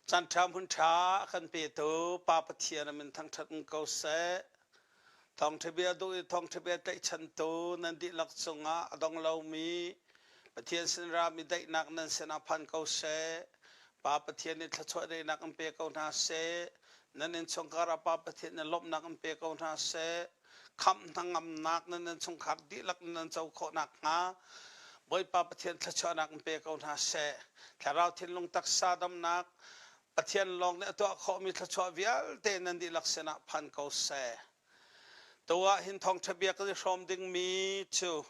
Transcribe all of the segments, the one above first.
Canṭha hmun ṭha a kan petu Pa Pathian a min thangṭhat um ko seh. Thawngṭhabia duh i thawngṭhabia tlaihchantu nan dihlak cungah a dong lomi Pathian sin rami daihnak nan sinah phan ko seh. Pa Pathian nih thluachuah deinak in pe ko hna seh. Nan innchungkar ah Pa Pathian nih lawmhnak in pe ko hna seh. khamh hnangamnak nan nan chungkhar dihlak nan co khawh nakhnga Bawipa Pathian thluachuahnak in pe ko hna seh. Thlarau thinlung taksa damnak Pathian lawng nih a tuah khawhmi thluachuah vialte nan dihlak sinah phan ko seh. Tu ah hin thawngṭha bia kan i hrawm dingmi cu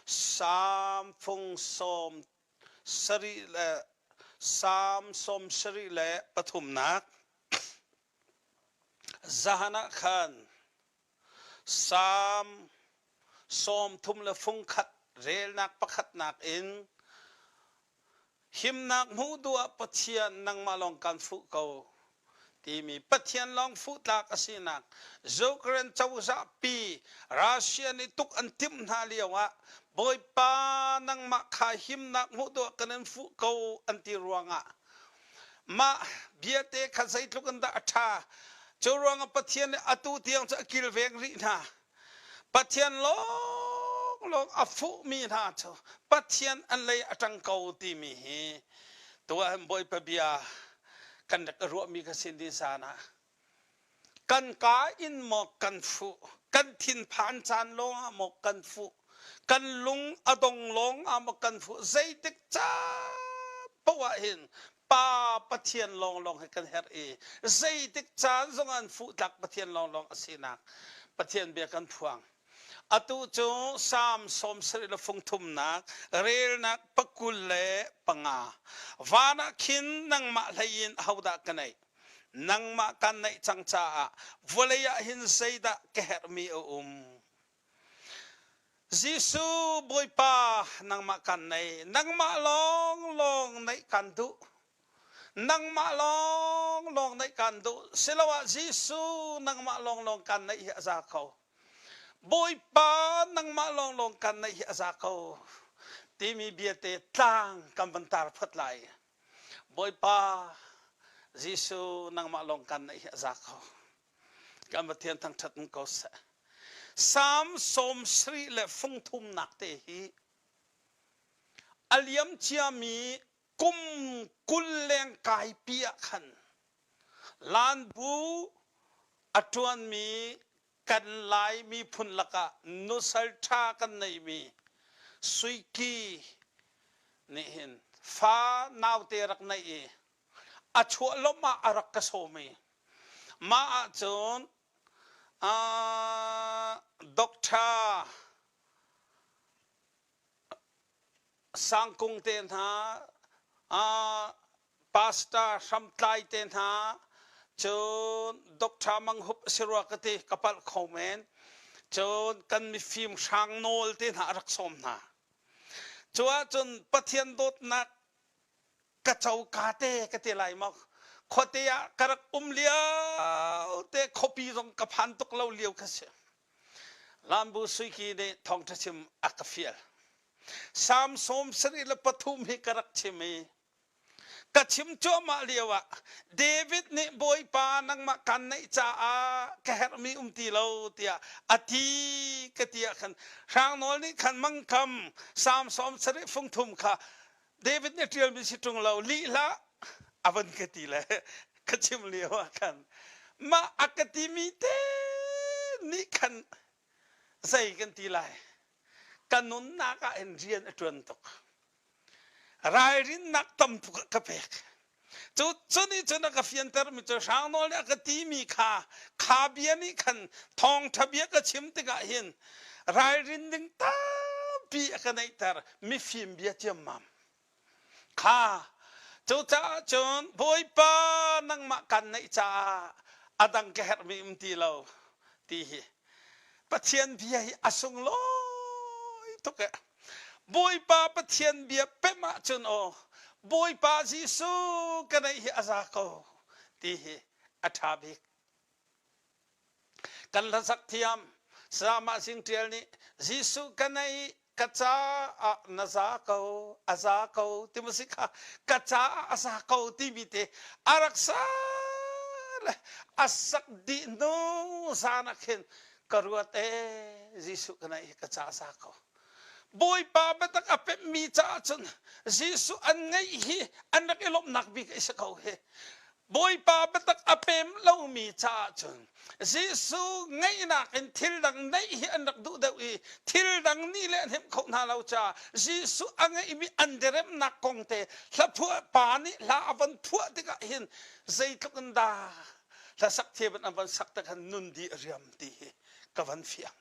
Psalm fung sawm sarih le Psalm sawm sarih le pathumnak Zan ah khan Salm sawmthum le fungkhat relnak pakhatnak in himnak hmuh duh ah Pathian nangmah lawng kan fuh ko timi Pathian lawng fuh tlak a sinak Ukraine cozah pi Russia nih tuk an timh hna lio ah Bawipa nangmah kha himnak hmuh duh ah kan in fuh ko an ti ruangah Mah biate kha zeitluk in dah a ṭha. Cu ruangah Pathian nih atu tiang cu a kilveng rih hna. Pathian lawnglawng a fuhmi hna cu Pathian an lei a ṭang ko timi hi tuah hin Bawipa bia kan rak i ruahmi ka sin din san ah Kan ka in maw kan fuh? Kan thinphan caan lawngah maw kan fuh? Kan lung a dong lawngah maw kan fuh? Zeitik caan poah hin Pa Pathian lawnglawng he kan herh i zeitik caan zongah fuh tlak Pathian lawnglawng a sinak Pathian bia kan phuang. Atu cu Psalm sawm sarih le fung thumnak relnak pakul le panga. Van ah khin nangmah hlei in ahodah ka neih? nangmah kan neih cang caah vawlei ah hin zeidah ka herhmi a um Jesuh Bawipa nangmah kan nei nangmah lawng lawng neih kan duh nangmah lawng lawng neih kan duh siloah Jesuh nangmah lawng lawng kan neih hi a za ko Bawipa nangmah lawng lawng kan neih hi a za ko timi biate tlang kan van tar phot lai Bawipa Jesuh nangmah lawng kan naih hi a za ko kan Pathian thangṭhat in ko seh Psalm sawm sarih le fung thumnak te hi a liam ciami kum kul leng kaipi ah khan Lan bu a ṭuanmi Kan Lai miphun lakah nusal ṭha kan neihmi Suiki nih hin fa naute rak neih i a chuahlawmh ah a rak ka sawm i mah ahcun Doctor sangkung te hna pastor hramtlai te hna cun doctor mang hup si rua ka ti ka palh kho men cun kan mifim hrang nawl te hna rak som hna cu ahcun pathian dawtnak ka coka te ka ti lai mok khuate ah ka rak um lio te khuapi zong ka phan tuk lo lio kha si Lambu suiki nih thawngṭha chim a ka fial. Salm sawm sarih le pathum hi ka rak chim i ka chim cuahmah lio ah David nih Bawipa nangmah kan neih caah ka herhmi um ti lo tiah a ti ka ti ah khan hrang nawl nih khan mangkam Salm sawm sarih fung thum kha David nih ṭialmi si ṭung lo lih hlah a van ka ti le ka chim lio ah khan mah a ka timi te nih khan zei kan ti lai ka nunnak ah hin rian a ṭuan tuk ralrinnak tam tuk ah ka pek Cu nih cun a ka fiantermi cu hrang nawl nih a ka timi kha kha bia nih khan thawngṭha bia ka chim tikah hin ralrin ding tampi a ka neihter mifim bia ciammam kha cucaah cun bawipa nangmah kan neih caah a dang ka herhmi um ti lo ti hi Pathian bia hi a sunglawi tuk ee Bawipa Pathian bia pemh ahcun aw Bawipa Jesuh ka neih hi a za ko ti hi a ṭha bik. Kan hlasak thiam Salmah Sing Ṭial nih Jesuh ka neih ka caah na za ko a za ko ti mu si kha ka caah a za ko timi te a rak sa le a sak dih hnu zan ah khin Ka ruat ee, Jesuh ka naih hi ka casa ko. Bawipa biatak a pemhmi caah cun Jesuh an ngeih hi an rak i lawmhnak bik a si ko hi. Bawipa biatak a pem lomi caah cun Jesuh ngeihnak in thil dang neih hi an rak duh deuh i thil dang nih le an hnemh kho hna lo caah Jesuh a ngeihmi an diriamhnak kong te hla phuah pa nih hla a von phuah tikah hin zeitluk in dah hlasak te an van sak te khan nun di a riam ti hi ka van fiang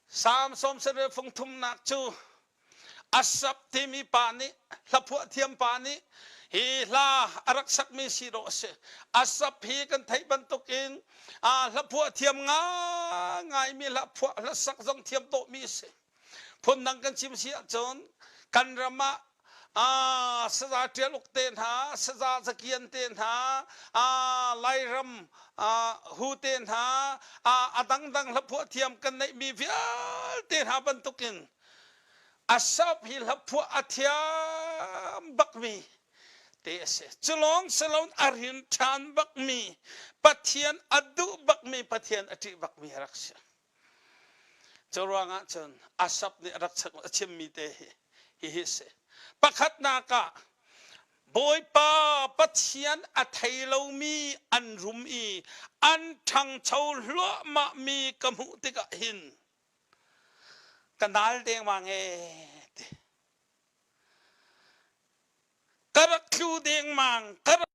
samson sanre fung thumnak cu asap timi pa nih hlaphuah thiam pa nih hi hla a rak sakmi si dawh a si asap hi kan theih bantuk in hlaphuah thiam ngai ngaimi hlaphuah hlasak zong thiam dawhmi a si Phundang kan chim si ahcun kan ram ah saza ṭial uk te hna, saza zakian te hna, Lairam hu te hna, a dangdang hlaphuah thiam kan neihmi vialte hna bantukin a sop hi hlaphuah a thiam bakmi te a si. Cu lawng si loin a rin ṭhan bakmi, Pathian a duh bakmi, Pathian a ṭih bakmi a rak si. Curuangah cun Asap nih rak a chimmi te hi hihi a si. Pakhatnak ah Bawipa Pathian a thei lomi an rum i an ṭhangcho hluahmah mi ka hmuh tikah hin ka nal dengmang ee ti. Ka rak tlu dengmang, ka rak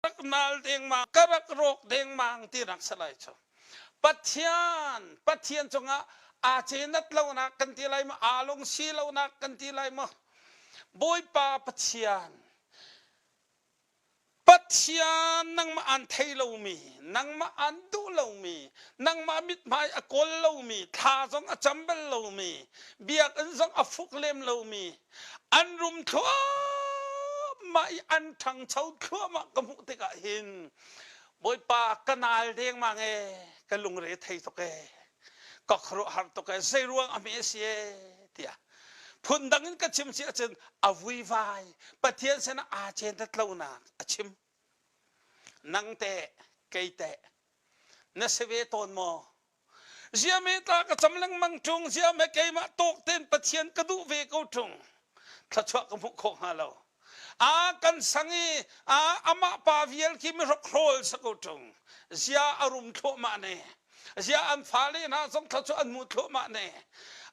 rak nal dengmang ka rak rawk dengmang ti rak si lai cu pathian pathian cungah aa cenat lonak kan ti lai maw aa lungsi lonak kan ti lai maw bawipa pathian pathian nangmah an thei lomi nangmah an duh lomi nangmah mithmai a kawl lomi thla zong a cam bal lomi biakinn zong a fuk lem lomi an rum thluahmah i an ṭhangcho thluahmah ka hmuh tikah hin Bawipa ka nal dengmang e ka lungre thei tuk e ka khuaruahhar tuk e zei ruang a hme a si e tiah phundang in ka chim si ahcun a vuivai Pathian sin aa ceentat lonak a chim nang teh kei teh na si ve tawn maw ziam hi tla ka cam lengmang ṭung ziam he keimah tawk tein Pathian ka duh ve ko ṭung thluachuah ka hmuh khawh hnga lo a kan sang i a amah pa vial khi mi hrokhrol sa ko ṭung zia a rum thluahmah ne zia an fale hna zong thluachuah an hmu thluahmah ne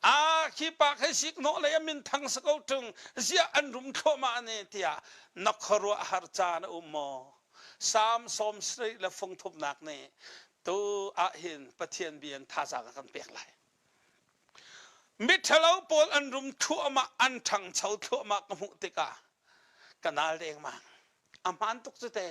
a khi pa khe sik hnawh lei a min thang sa ko ṭung zia an rum thluahmah ne tiah na khuaruah har caan a um maw Psalm sawm sarih le fung thumnak nih Tu ahhin Pathian bia in thazaang a kan pek lai. Miṭhalo pawl an rum thluahmah, an ṭhangcho thluahmah ka hmuh tikah ka nal dengmang. A hmaan tuk cu te.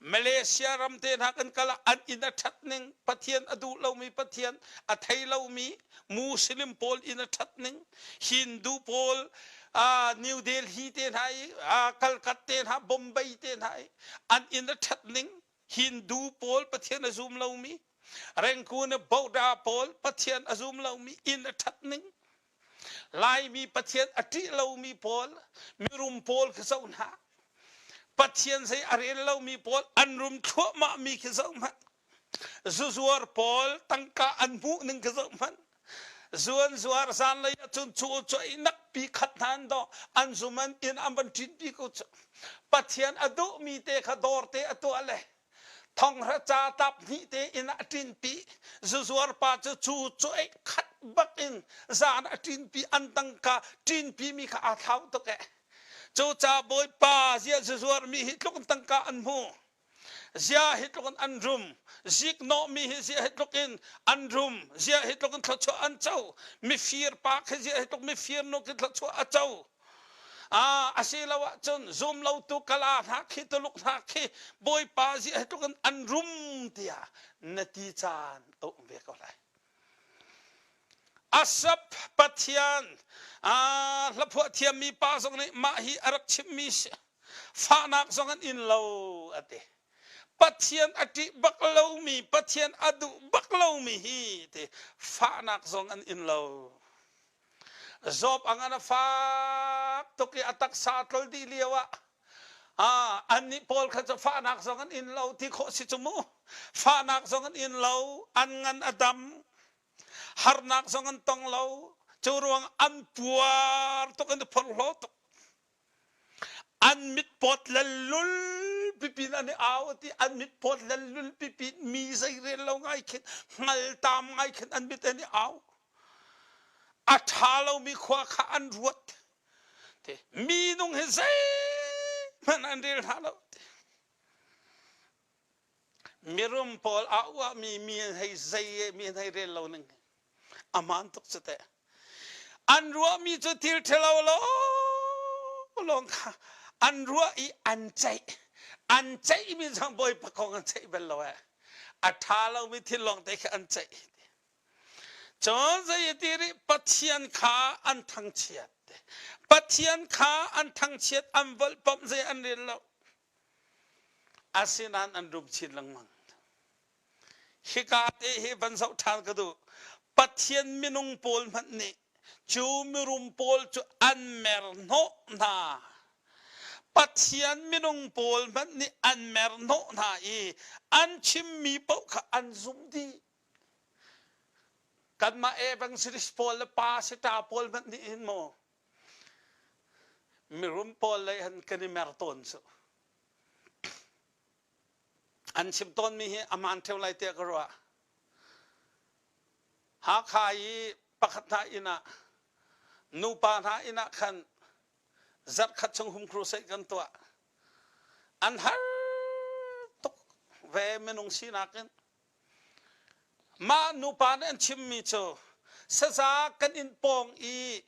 Malaysia ram te hna kan kal ah an inn a ṭhat ning, Pathian a duh lomi Pathian, a thei lomi Muslim pawl inn a ṭhat ning, Hindu pawl aa, New Delhi te hna i, aa, Calcutta te hna, Bombay te hna i an inn a ṭhat ning, Hindu pawl Pathian a zum lomi, Rangoon a Buddha pawl Pathian a zum lomi, inn a ṭhatning, Laimi Pathian a ṭih lomi pawl mirum pawl khi zoh hna. Pathian zei a rel lomi pawl an rum thluahmahmi khi zoh hmanh. Zuzuar pawl tangka an hmuh ning khi zoh hmanh. Zuan zuar zanlei ahcun cu cu inak pi khat hna an dawh an zum an inn an van ṭin pi ku cu Pathian a duhmi te kha dawr te a tuah le thonghra ca tap hnih te inn ah ṭin pi zuzuar pa cu cu cu ei khat bak in zan a ṭin pi an tangka ṭin pi mi kha aa thlau tuk ee. Cuca Bawipa ziah zuzuar mi hi tluk tangka an hmu. Zia hi tluk in an rum. Zik nawhmi hi zia hi tluk in an rum. Zia hi tluk in thluachuah an co. Mifir pa khi zia hi tluk mifir nu khi thluachuah a co. Ah, a si lo ahcun zum lotu kala hna khi tuluk hna khi Bawipa zia hi tluk in an rum tiah na ti caan a um ve ko lai. Asap Pathian hlaphuah thiammi pa zong nih mah hi a rak chimhmi fahnak zong an in lo a ti. Pathian a ṭih bak lomi, Pathian a duh bak lomi hi ti fahnak zong an in lo. Job angah a fak tuk i a taksa a tlol dih lio ah Ah, annih pawl kha cu fahnak zong an in lo ti khawh si cu mu. Fahnak zong an in lo, an ngan a dam, harnak zong an tong lo. Cu ruang an puar tuk, an i phorhlaw tuk. An mit pawt lallul pipin an i au ti an mit pawt lallul pipin mi zei rel lo ngai khin hngaltam ngai khin an mit an i au a ṭha lomi khua kha an ruat minung hi zeihmanh an rel hlah lo mirum pawl a uahmi mi hei zei mi hei rel lo ning aman tuk cu teh an ruahmi cu thil ṭhalo lo lawng kha an ruah i an ceih an ceihmi zang bawipa kong an ceih bel lo e a ṭha lomi thil lawng te khi an ceih Cun zei ati rih Pathian kha an thangchiat Pathian kha an thangchiat an volh pom zei an rel lo asinain an rum chin lengmang hika te hi van zoh ṭhan ka duh Pathian minung pawl hmanh nih cu mirum pawl cu an mer hnawh hna Pathian minung pawl hmanh nih an mer hnawh hna i an chimmi paoh kha an zumh dih Kanmah evangelist pawl le pa sita pawl hmanh nih hin maw mirum pawl lei han kan i mer tawn cu. An chim tawnmi hi a man theo lai tiah ka ruah. Hakha i pakhat hna inn ah nupa hna inn ah khan zarhkhat chung hum crusade kan tuah. An har tuk ve minung sinak in. Mah nupa nih an chimmi cu saza kan in pawng i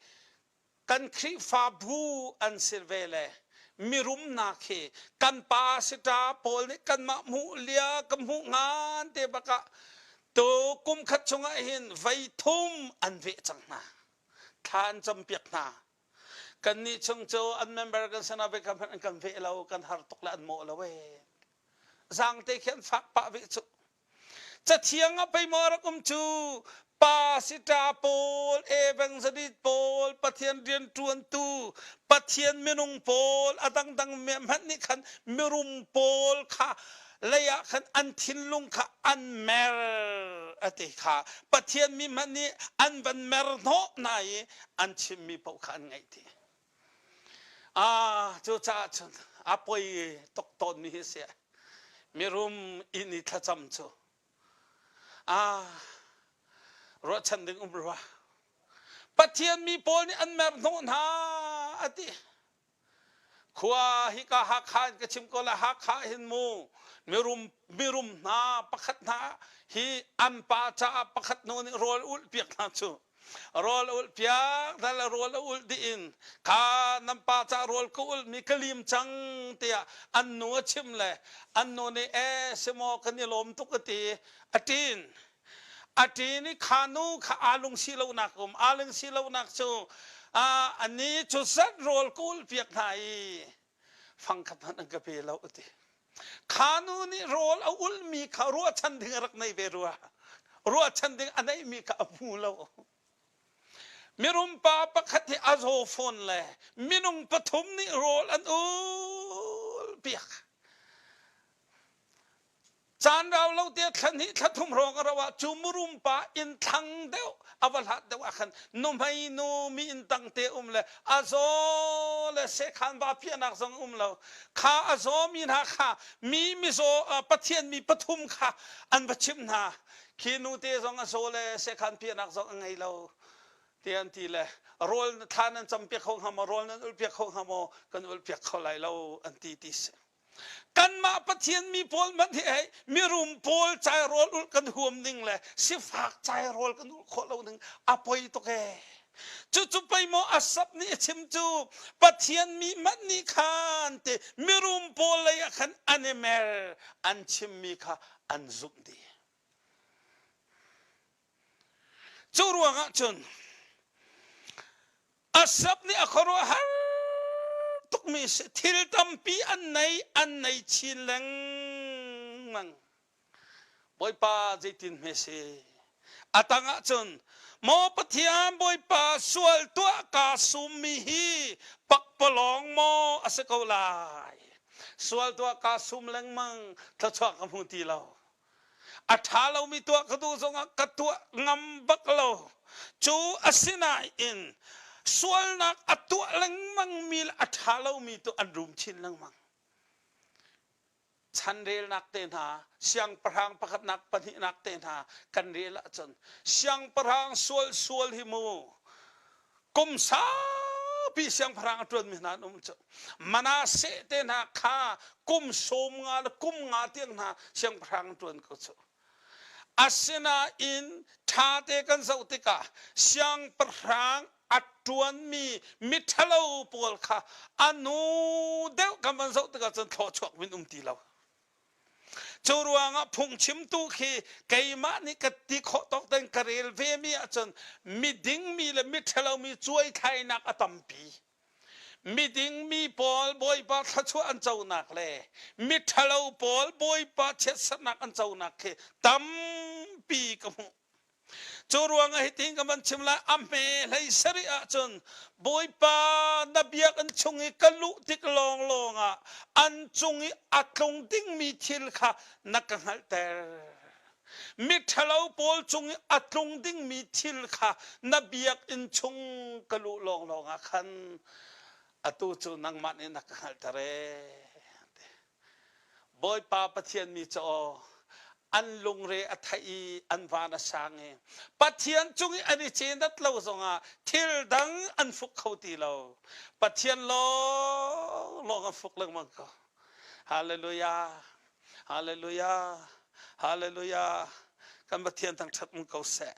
kan Khrihfabu an si ve le mirum hna khi kan pa si ta pawl nih kanmah hmuh lia ka hmuh ngan te bak ah tu kum khat chung ah hin voi thum an veh cang hna thla an cam piak hna Kannih chung cu an member kan si nain kan hmanh an kan veh lo, kan har tuk le an mawh lo ee. Zaangte khi an fak pah ve cu. Cathiang ah pei maw rak um cu pa sita pawl evangelist pawl pathian rian ṭuantu pathian minung pawl a dangdang hmanh nih khan mirum pawl kha lei ah khan an thinlung kha an mer a ti kha pathian mi hmanh nih an van mer hnawh hna i an chimmi paoh kha an ngaih ti ah cu caah cun a poi tuk tawnmi hi si mirum inn i thlacam cu ah ruahchan ding um rua pathian mi pawl nih an mer hnawh hna a ti khua hika Hakha in ka chim ko la Hakha hin mu mirum mirum hna pakhat hna hi an pa caah pakhat nu nih rawl ulh piak hna cu rawl ulh piak dal rawl a ulh dih in kha nan pa ca rawl ka ulh mi ka lim cang tiah an nu a chim le an nu nih e semaw kan i lawm tuk a ti a tin A ṭe nih kha nu kha aa lungsi lonak um, aa lungsi lonak cu a ni cu zat rawl kulpiak hna i fangkhat hmanh an ka pe lo a ti. Kha nu nih rawl a ulhmi kha ruahchan ding a rak nei ve rua. Ruahchan ding a neihmi kha a hmu lo. Mirum pa pakhat nih a zaw fawn le minung pathum nih rawl an ulpiak. Caan rau lo te thla hnih thla thum hrawng a rauh ah cu murum pa inn thlang deuh a va hlat deuh ah khan nuhmei nu mi inn tang te um le a zaw le sekhan va piahnak zong um lo kha a zawmi hna kha mi mizaw pathian mi pathum kha an va chimh hna khi nu te zong a zaw le sekhan piahnak zong a ngei lo ti an ti le rawl thla nan cam piak kho hnga maw rawl nan ulh piak kho hnga maw kan ulh piak kho lai lo an ti ti si Kanmah Pathian mi pawl hmanh hi hei mirum pawl cairawl ulh kan huam ning le sifak cairawl kan ulh khawh lo ning a poi tuk ee. Cucu pei maw Asap nih a chim cu Pathian mi hmanh nih khan ti mirum pawl lei ah khan animal an chimmi kha an zumh dih. Cu ruangah cun Asap nih a khuaruahhar tukmi si thil tampi an nei an nei chin lengmang Bawipa zeitin hme si a tangah cun maw Pathian Bawipa sual tuah kaa summi hi pakpalawng maw a si ko lai sual tuah kaa sum lengmang thluachuah ka hmu ti lo A ṭha lomi tuah ka duh zongah ka tuah ngam bak lo. Cu asinain sualnak a tuah lengmangmi le a ṭha lomi tu an rum chin lengmang. Chanrelnak te hna, siangpahrang pakhatnak pahnihnak te hna kan rel ahcun siangpahrang sual sual hi mu kum saupi siangpahrang a ṭuanmi hna an um cu Manasseh te hna kha kum sawm nga le kum nga tiang hna siangpahrang an ṭuan ko cu asinain ṭhate kan zoh tikah siangpahrang a ṭuanmi miṭhalo pawl kha a nu deuh kan van zoh tikah cun thlawchuak min um ti lo Cu ruangah phungchim tu khi keimah nih ka ti khawh tawk ten ka rel ve mi ahcun miding mi le miṭhalo mi cuaithlainak a tampi. Miding mi pawl Bawipa thluachuah an conak le miṭhalo pawl Bawipa chiatserhnak an conak khi tampi ka hmuh. Cu ruangah hitin ka van chim lai, a hme hlei seri ahcun Bawipa na biakinn chung i ka luh tik lawnglawng ah an cung i a tlung dingmi thil kha na ka hngalhter. Miṭhalo pawl cung i a tlung dingmi thil kha na biakinn chung ka luh lawnglawng ah khan atu cu nangmah nih na ka hngalhter ee. Bawipa Pathian mi cu aw, an lungre a theih i an van a sang i Pathian cung i an i cenat lo zongah thil dang an hruk kho ti lo. Pathian lawnglawng an hruk lengmang ko. Hallelujah! Hallelujah! Hallelujah! Kan Pathian thangṭhat um ko seh.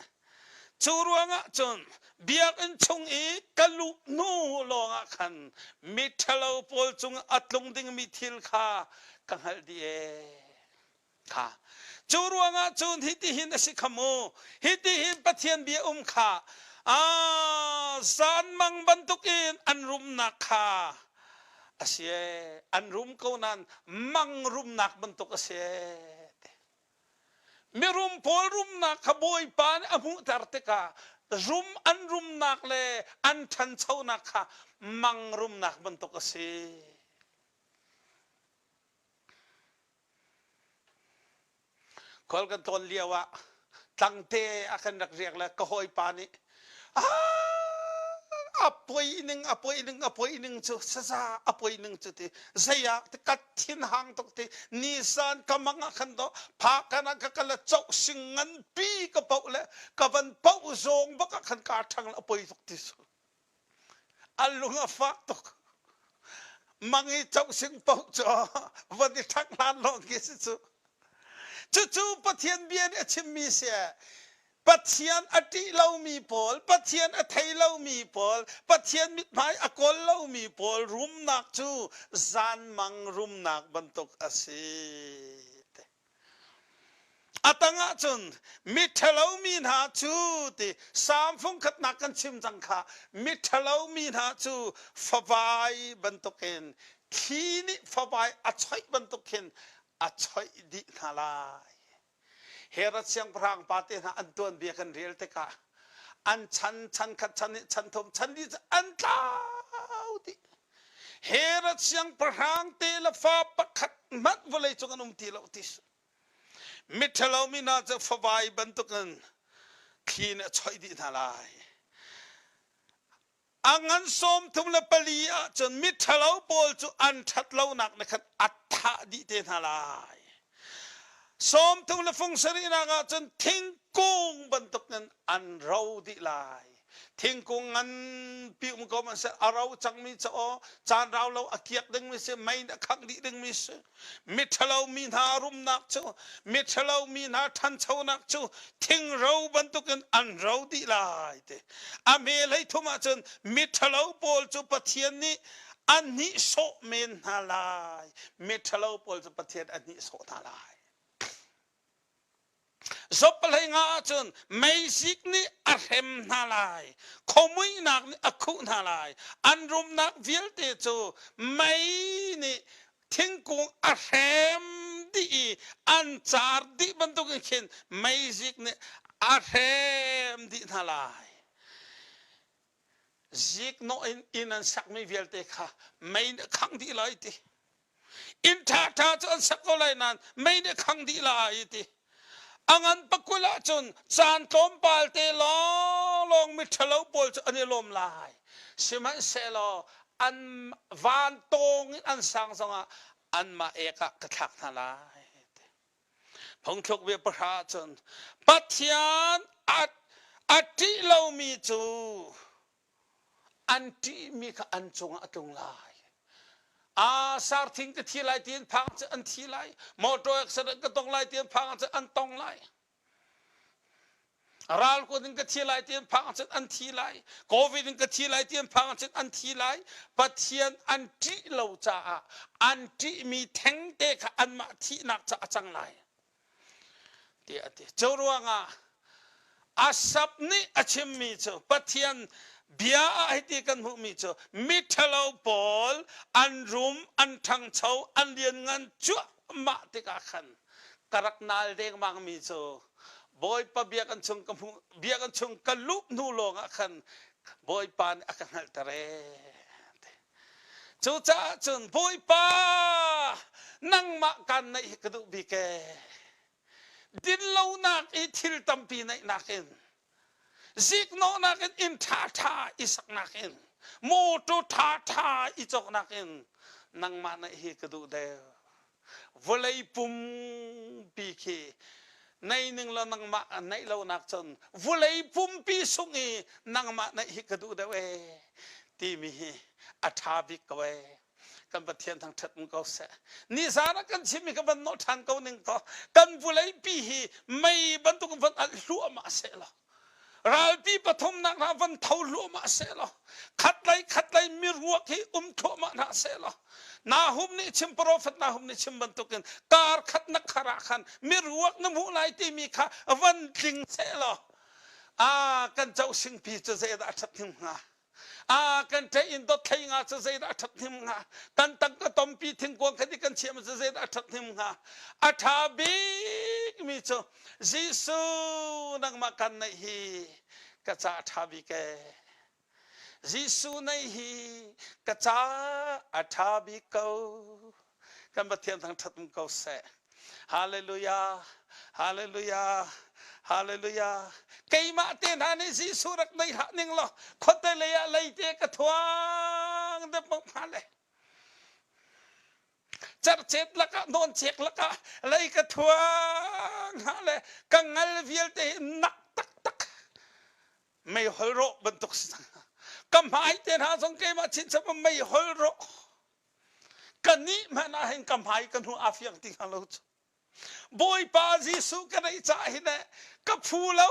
Cu ruangah cun biakinn chung i ka luh hnu lawngah khan miṭhalo pawl cungah a tlung dingmi thil kha ka hngalh dih ee. Kha. Cu ruangah cun hitihin a si kha mu, hitihin Pathian bia um kha, aa zanmang bantukin an rumnak kha a si ee, an rum ko nain mang rumnak bantuk a si ee. Mirum pawl rumnak kha Bawipa nih a hmuhter tikah rum an rumnak le an ṭhanchonak kha mang rumnak bantuk a si. Khual kan tlawn lio ah tlangte a kan rak riak le ka hawipa nih a poi ning a poi ning a poi ning cu saza a poi ning cu ti zeiah ti kat thin hang tuk ti ni san ka mang ah khan do pha kan ah ka kala chau sing ngan pi ka poh le ka van poh zong bak ah khan ka thang a poi tuk ti su a lung a fak tuk. Mang i cohsing paoh cu van i thak hlan lawng khi si cu. Cucu Pathian bia nih a chimmi si Pathian a ṭih lomi pawl, Pathian a thei lomi pawl, Pathian mithmai a kawl lomi pawl rumnak cu zanmang rumnak bantuk a si. A tang ah cun miṭhalo mi hna cu ti Salm fungkhatnak kan chim cang kha miṭhalo mi hna cu favai bantukin thli nih favai a choih bantuk khin a choih dih hna lai. Herod siangpahrang pate hna an tuanbia kan rel tikah an chan chan khat chan nih chan thum chan li cu an tlau dih. Herod siangpahrang te le fa pakhat hmanh vawlei cung an um ti lo ti miṭhalo mi hna cu favai bantukin thli nih a choih dih hna lai a ngan sawm thum le pali ahcun miṭhalo pawl cu an ṭhat lonak nih khan a thah dih te hna lai sawm thum le fung sarihnak ahcun thingkung bantukin an ro dih lai thingkung nganpi um ko man seh a ro cangmi ca aw caan rau lo a kiak dingmi si mei a khangh dih dingmi si miṭhalo mi hna rumnak cu miṭhalo mi hna ṭhanchonak cu thingro bantukin an ro dih lai te a hme lei thum ahcun miṭhalo pawl cu pathian nih an nih sawh men hna lai miṭhalo pawl cu pathian an nih sawh hna lai Job pahlei nga ahcun meisik nih a hrem hna lai, khomuihnak nih a khuh hna lai, an rumnak vialte cu mei nih thingkung a hrem dih i an car dih bantukin khin meisik nih a hrem dih hna lai. Ziknawh in inn an sakmi vialte kha mei nih a khang dih lai ti. Inn ṭhaṭha cu an sak ko lai nain mei nih a khang dih lai ti. A ngan pakul ahcun caan tlawmpal te lawnglawng miṭhalo pawl cu an i lawm lai. Sihmanhsehlaw an van tawng in an sang zongah anmah ek ah ka thlak hna lai. Phungthluk bia pahra cun Pathian at a ṭih lomi cu an ṭihmi kha an cungah a tlung lai. Ah sar thing te thi lai tiin phang cu an thi lai. Motor accident ka tong lai tiin phang cu an tong lai. ral kuat in ka thi lai ti an phang ahcun an thi lai covid in ka thi lai ti an phang ahcun an thi lai pathian an ṭih lo caah an ṭihmi thengte kha anmah thihnak ca a cang lai tiah a ti cu ruangah asap nih a chimmi cu pathian bia ah hiti kan hmuhmi cu miṭhalo pawl an rum an ṭhangcho an lianngan cuahmah tikah khan ka rak nal dengmangmi cu Bawipa biak an chung ka hmu biak an chung ka lup hnu lawngah khan Bawipa nih a ka hngalhter ee. Cucaah cun Bawipa nangmah kan naih hi ka duh bik ee. Dinlonak i thil tampi naihnak in Ziknawhnak in inn ṭhaṭha i saknak in motor ṭhaṭha i cawknak in nangmah naih hi ka duh der vawlei pumpi khi nei ning law nangmah naih lonak cun vawlei pumpi sung i nangmah naih hi ka duh deuh ee timi hi a ṭha bik ko ee kan Pathian thang ṭhat um ko seh. Nizan ah kan chimmi ka van nawh ṭhan ko ning kaw kan vuleipi hi mei bantuk van alh hluahmah sehlaw ralpi pathumnak hna van tho hluahmah sehlaw khatlei khatlei miruak hi um thluahmah hna sehlaw Nahum nih chim profet Nahum nih chim bantukin kar khat na kharah khan miruak na hmuh lai timi kha van tling sehlaw a kan cohsing pi cu zeidah a ṭhat him hnga Ah, kan ṭaih in dothlei nga cu zeidah a ṭhathnem hnga? Kan tangka tompi thingkuang khat i kan chiah maw cu zeidah a ṭhathnem hnga? A ṭha bikmi cu Jesuh nangmah kan neih hi ka ca a ṭha bik ee. Jesuh neih hi ka ca a ṭha bik ko. kan Pathian thangṭhat um ko seh. Hallelujah! Hallelujah! Hallelujah! Keimah te hna nih Jesuh rak nei hlah ning law khuate lei ah leite ka thuang depok hna le. Cercet lakah noncek lakah lei ka thuang hna le ka ngal vialte nak taktak mei hol rawh bantuk si cang. Ka hmai te hna zong keimah chin chap mei hol rawh. Kannih hmanh ah hin ka hmai ka hnu a fiang ti hnga lo cu. Bawipa Jesuh ka neih caah hi ne ka phu lo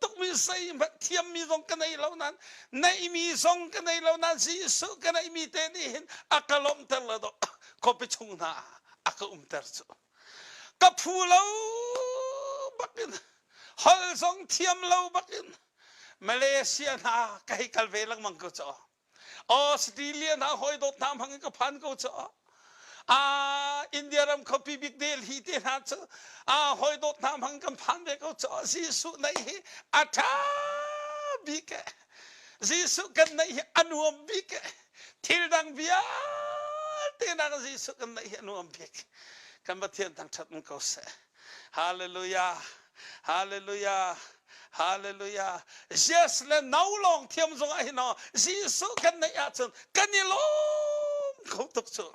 tukmi sei hmanh thiammi zong ka nei lo nan neihmi zong ka nei lo nan Jesuh ka neihmi te nih hin a ka lawmhter lo do khuapi chung hna a ka umter cu ka phu lo bakin hol zong thiam lo bakin Malaysia hna ka hei kal ve lengmang ko caw Australia hna hawidawt hna hmangin ka phan ko cu a India ram khapi bik Delhi te hna cu a hawidawt hna hmangin kan phan ve ko cu Jesuh neih hi a ṭha bik e Jesuh kan neih hi a nuam bik e thil dang vialte nak Jesuh kan neih hi a nuam bik kan Pathian thangṭhat um ko seh Hallelujah. Hallelujah. Hallelujah. Yes le no long thiam zong ah hino Jesuh kan neih ahcun kan i lawm kho tuk cu.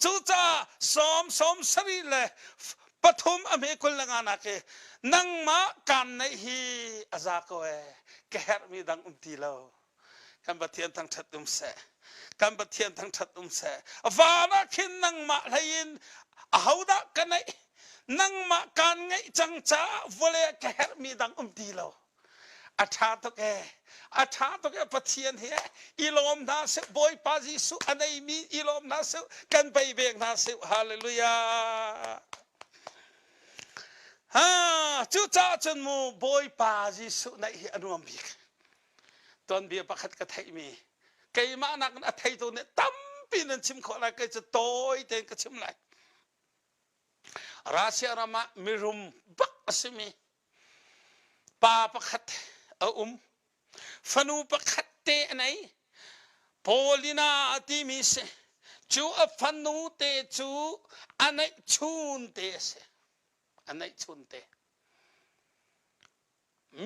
Cucaah Psalm sawm sarih le pathum a hme kul le nga nak i nangmah kan neih hi a za ko e ka herhmi dang um ti lo. kan pathian thangthat um seh kan pathian thangthat um seh van ah khin nangmah hlei in ahodah ka neih nangmah kaan ngeih cang caah vole ka herhmi dang um ti lo a tha tuk e a tha tuk e pathian hi i lawm hna seh bawipa jesuh a neimi i lawm hna seh kan bei bek hna seh hallelujah ha cucaah cun mu bawipa jesuh neih hi a nuam bik tuanbia pakhat ka theihmi keimah nakin a theitu nih tampi nan chim khawh lai kei cu tawi tein ka chim lai Russia ram ah mirum bak a simi pa pakhat a um fanu pakhat te a nei Polina timi si cu a fanu te cu a neih chun te a si a neih chun te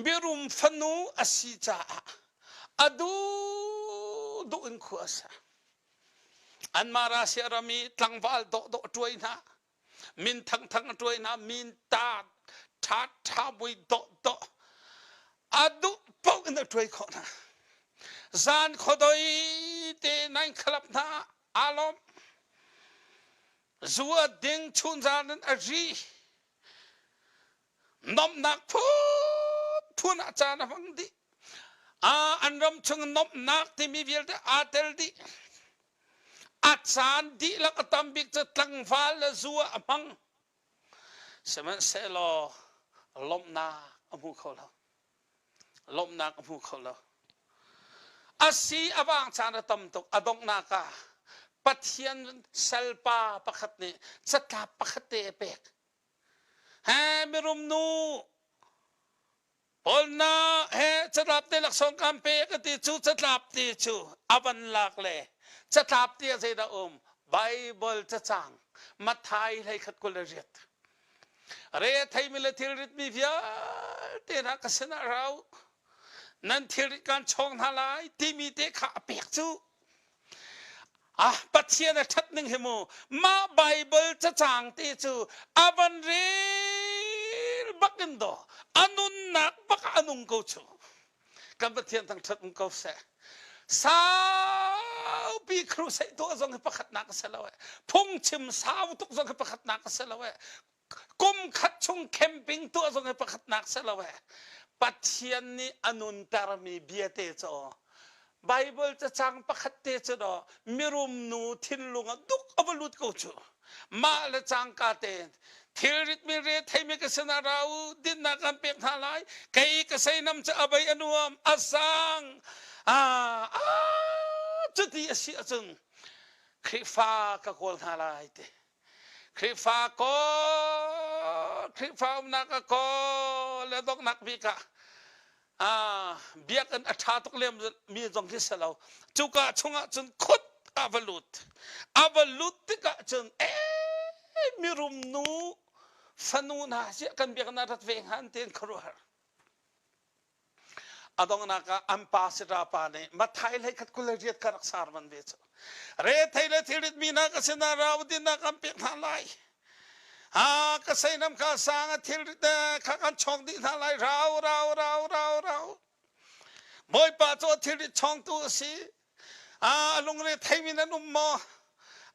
Birum fanu a si caah a duhduh in khua a sa. Anmah Russia ram i tlangval dawhdawh a tuai hna. Min thangthang a tuai hna. Min taat, ṭhat, ṭhabui, dawhdawh. A duh paoh in a tuai khawh hna. Zan khuadoi te nan khalap hna. Aa lawm. Zu a ding chun zan in a ri. nomhnak phunphun ah caan a hmang dih ah an ram chung nomhnak timi vialte aa tel dih a caan dihlak a tam bik cu tlangval le zu ah a hmang sihmanhsehlaw lawmhnak a hmu kho lo lawmhnak a hmu kho lo a si a vang caan a tam tuk a donghnak ah pathian salpa pakhat nih catlap pakhat te a pek he mirum nu Polna he catlap te laksawng kan pe ka ti cu catlap te cu a van lak le catlap te ah zeidah um Bible cacang Mathai hlei khat kul an riat re theimi le thil ritmi vialte hna ka sinah rau nan thil rit kan chawng hna lai timi te kha a pek cu Ah Pathian a ṭhat ning hi mu mah Bible cacang te cu a van rel bak in do a nunnak bak a nung ko chu kan Pathian thang ṭhat um ko seh saupi crusade tuah zong hi pakhatnak a si lo eh phungchim sau tuk zong hi pakhatnak a si lo eh kum khat chung camping tuah zong hi pakhatnak si lo ee. Pathian nih a nuntermi biate cu aw. Bible cacang pakhat te cu do mirum nu thinlung ah duk a va lut ko cu. Mah le cangka te thilrit mi re theimi ka sinah ra u dinnak kan pek hna lai kei ka seinam cu a bei a nuam a sang ah a cuti a si ahcun Khrihfa ka kawl hna lai ti Khrihfa kaw, Khrihfa umnak a kaw le donghnak bik ah ah biakinn a ṭha tuk lem mi zong khi si lo. Cuka chungah cun khut a va lut. A va lut tikah cun eh mirum nu fanu hna hi kan biakinn ah rat ve hnga an tiin khuaruahhar. A donghnak ah an pa sirapa nih Mathai hlei khat kul le riat kha rak sar van ve cu. Re thei le thilrit mi na ka sinah ra udin na kan pek hna lai. Ha ka sei nam kha sang a thilrit te kha kan chong dih hna lai rau rau rau rau rau. Bawipa cu thilrit chongtu a si. ah lungre theimi nan um maw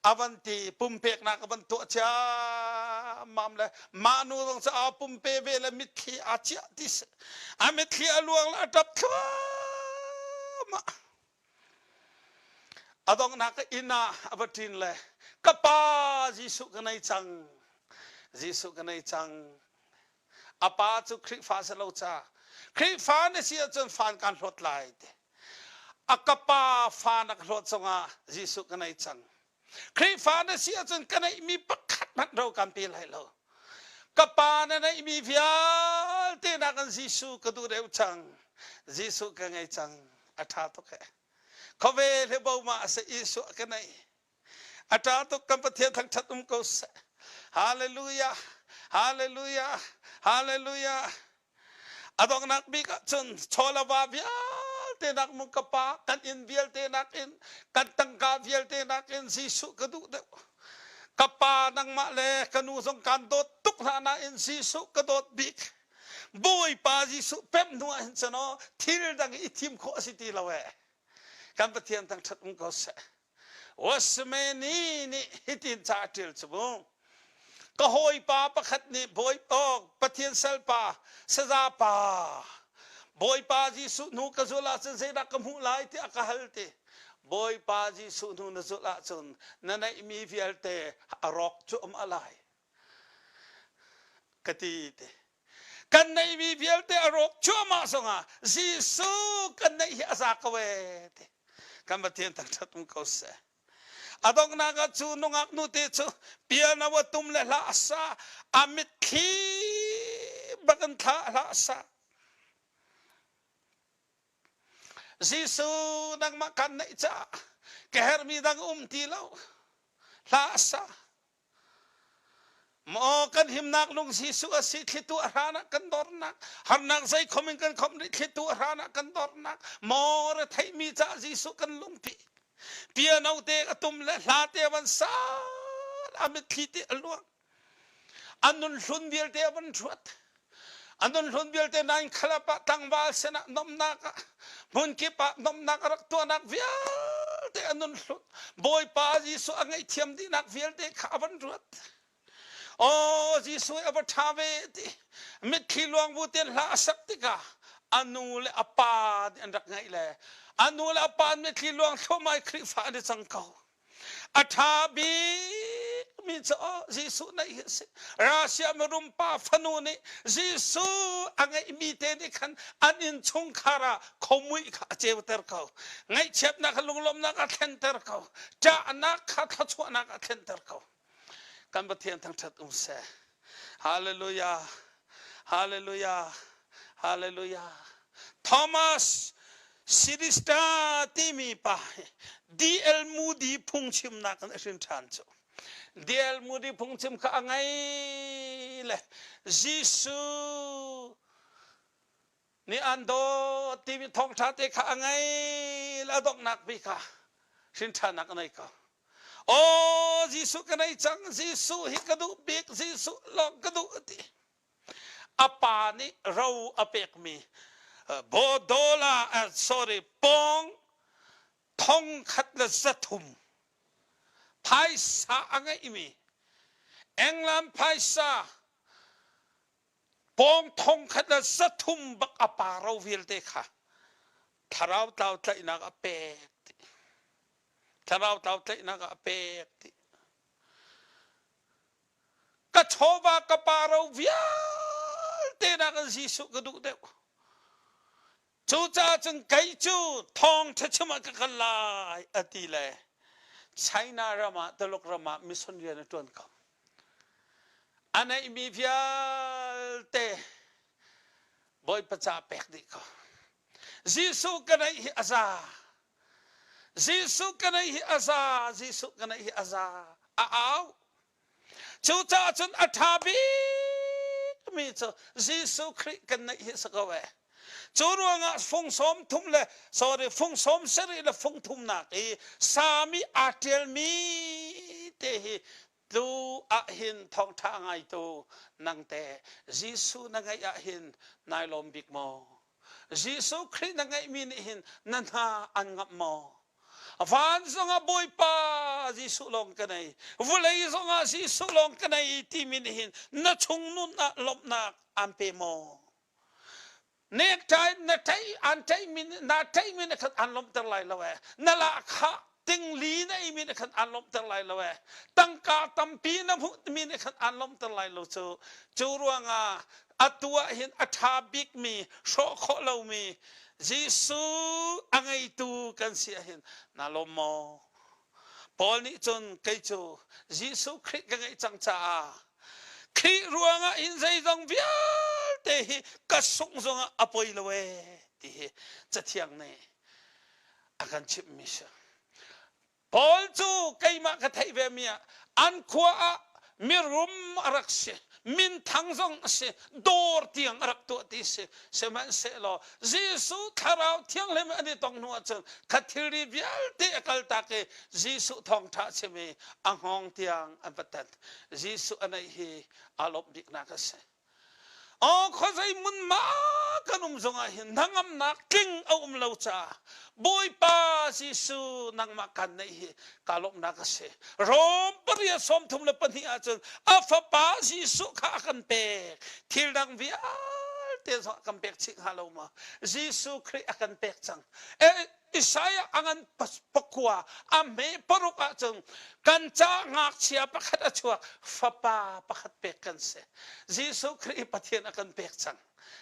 a van ti pumpeknak a van tuah ciammam le manu zong cu aa pumpe ve le mitthli aa ciah ti a mitthli a luang le a ṭap thluahmah a donghnak inn ah a va ṭin le ka pa Jesuh ka nei cang Jesuh ka nei cang a pa cu Khrihfa a si lo ca Khrihfa na si ahcun fan kan hlawt lai ti a ka pa fa na ka hlawt cungah Jesuh ka nei cang Khrihfa na si ahcun ka neihmi pakhat hmanh ro kan pe lai lo ka pa na neihmi vialte nakin Jesuh ka duh deuh cang Jesuh ka ngei cang a ṭha tuk ee khawve le boma a si Jesuh ka neih a ṭa tuk kan Pathian thangṭhat um ko seh. Hallelujah, hallelujah, hallelujah. A donghnak bik ah cun chawlava vialte nakmung ka pa kan inn vialte nakin kan tangka vialte nakin Jesuh ka duh deuh. Ka pa nangmah le ka nu zong kan dawt tuk hna nain Jesuh ka dawt bik. Bawipa Jesuh pemh hnu ah hin cun oh, thil dang i thim khawh a si ti lo ee. Kan Pathian thangṭhat um ko seh. Wasmeni nih hitin ca a ṭial cu mu, Ka hawipa pakhat nih Bawipa, Pathian salpa, saza-pa, Bawipa Jesuh hnu ka zulh ahcun zeidah ka hmuh lai tiah ka hal ti. Bawipa Jesuh hnu na zulh ahcun na neihmi vialte a rawk cuahmah lai. ka ti te kan neih mi vialte a rawk cuahmah zongah Jesuh kan neih hi a za ko ee ti kan Pathian thangṭhat um ko seh a donghnak ah cu nungak nute cu piano a tum le hla a sa a mitthli bak in thla hla a sa Jesuh nangmah kan neih caah ka herhmi dang um ti lo hla a sa Maw kan himnak lungsi su a si thlitu a hranah kan dornak harnak zei khom in kan khom rih thlitu a hranah kan dornak maw re theimi ca Jesuh kan lungpi piano te a tum le hla te van sal a mitthli te a luang an nun hlun vialte a van ruat an nunhlun vialte nan khalap ah tlangval sinah nomnak ah hmunkip ah nomnak a rak tuahnak vialte a nunhlun bawipa jesuh a ngaihthiam dihnak vialte kha a van ruat aw jesuh a va ṭha ve ti mitthli luang bu ten hla a sak tikah a nu le a pa an rak ngaih le a nu le a pa mitthli luang thluamai khrihfa an i cang ko A ṭha bikmi cu oh, Jesuh naih hi a si. Russia mirum pa fanu nih Jesuh a ngeihmi te nih khan an innchungkhar ah khomuih kha a ceuter ko. Ngaihchiatnak kha lunglawmhnak a thlenter ko. Ṭahnak kha thluachuahnak a thlenter ko. kan pathian thangthat um seh hallelujah hallelujah hallelujah thomas Sidista timi pa DL Moody phungchimnak an hrin ṭhan cu DL Moody phungchim kha a ngai le Jesuh Nih an dawt timi thawngṭha te kha a ngei a donghnak vi kha hrinṭhanak a nei ko. Aw Jesuh ka nei cang, Jesuh hi ka duh bik, Jesuh lawng ka duh a ti. A pa nih ro a pekmi bodola, uh, sorry, pawng thong khat le zathum phaisa a ngeihmi England phaisa pawng thong khat le sathum bak a paro vialte kha thlarau tlau tlaihnak a pek ti thlarau tlau tlaihnak a pek ti ka chawva ka paro vialte nak in Jesuh ka duh deuh Cucaah cun kei cu thawngṭha chim ah ka kal lai a ti le China ram ah Tuluk ram ah mission rian a ṭuan ko. A neihmi vialte Bawipa ca pek dih ko. Jesuh ka neih hi a za. Jesuh ka neih hi a za. Jesuh ka neih hi a za. A au. Cucaah cun a ṭha bikmi cu Jesuh Khrih kan neih hi a si ko ee. Cu ruangah fung sawm thum le sorry fung sawm sarih le fung thumnak i sami aa ṭialmi te hi tlu ah hin thawngṭha ngaitu nang te Jesuh na ngeih ah hin nai lawm bik maw? Jesuh Khrih na ngeihmi nih hin na hna an ngamh maw? Vansung ah Bawipa Jesuh lawng ka nei, vawlei zong ah Jesuh lawng ka nei timi nih hin na chungnun ah lawmhnak aan pe maw? Nekṭai na ṭaih aan ṭaihmi naa ṭaihmi na khan aan lawmhter lai lo ee. Na lahkhah tingli na eimi na khan aan lawmhter lai lo ee. Tangka tampi na hmuhmi na khan aan lawmhter lai lo cu. Cu ruangah atu ah hin a ṭha bikmi hrawh khawh lomi Jesuh a ngeitu kan si ahhin naa lawm maw? Paul nih cun kei cu Jesuh Khrih ka ngeih cang caah Khrih ruangah hin zeizong vialte hi ka sungzung ah a poi lo ee ti hi Cathiang nih a kan chimhmi si. Paul cu keimah ka theih vemi ah an khua ah mirum a rak si, minthang zong a si, dawr tiang a rak tuah ti si. Sihmanhsehlaw Jesuh Thlarau Thianghlim an i tong hnu ahcun kha thilri vialte a kaltak i Jesuh thawngṭha a chim i a hngawng tiang an va tat. Jesuh a neih hi aa lawmh biknak a si. Aw khuazei hmunhma kan um zongah hin hnangamnak tling a um lo caah Bawipa Jesuh nangmah kan neih hi ka lawmhnak a si. Rom pariat sawm thum le pahnih ahcun a fapa Jesuh kha a kan pek. Thil dang vialte zong a kan pek chih hnga lo maw? Jesuh Khrih a kan pek cang. Isaiah a ngan pakua a hme paruk ahcun kan ca ngakchia pakhat a chuak fapa pakhat pek kan si Jesuh Khrih Pathian a kan pek cang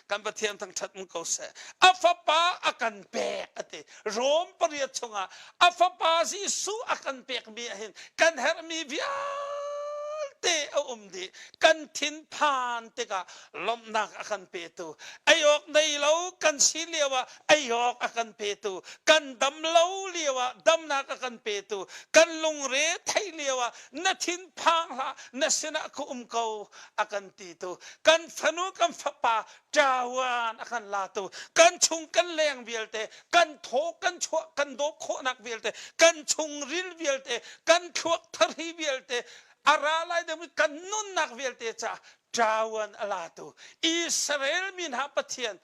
kan Pathian thangṭhat um ko seh a fapa a kan pek a ti Rom pariat chungah a fapa Jesuh a kan pekmi ahhin kan herhmi vialte a um dih kan thinphan tikah lawmhnak a kan petu ei awk nei lo kan si lio ah ei awk a kan petu, kan dam lo lioah damnak a kan petu, kan lungre theih lioah na thinphang hlah, na sinah ka um ko a kan titu, kan fanu kan fapa ṭaoan a kan latu, kan chung kan leng vialte, kan thaw kan chuah kan dawp khawhnak vialte, kan chungril vialte, kan thluak thari vialte, a ra lai ding kan nunnak vialte caah ṭaoan a latu Israel mi hna Pathian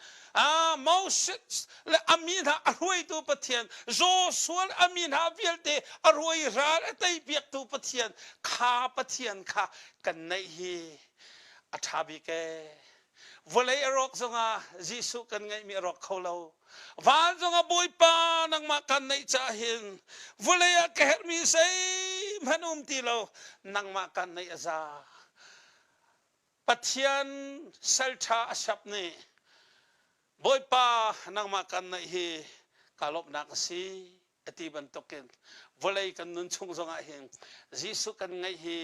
Moses le a mi hna a hruaitu Pathian Joshua le a mi hna vialte a ruai ral a teipiaktu Pathian kha Pathian kha kan neih hi a ṭha bik ee vawlei a rawk zongah Jesuh kan ngeihmi a rawk kho lo Vaanzong a bawipa nangmah kan neih caah hin vulei ah ka herhmi zeihmanh um ti lo nangmah kan neih a za. Pathian salṭha a siap nih bawipa nangmah kan neih hi ka lawmhnak a si a ti bantukin vawlei kan nun chung zongah hin Jesuh kan ngaih hi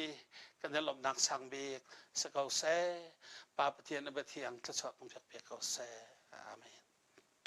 kan i lawmhnak sang bik si ko seh. Pa Pathian a biathiang thluachuah kan pek ve ko seh. Amen.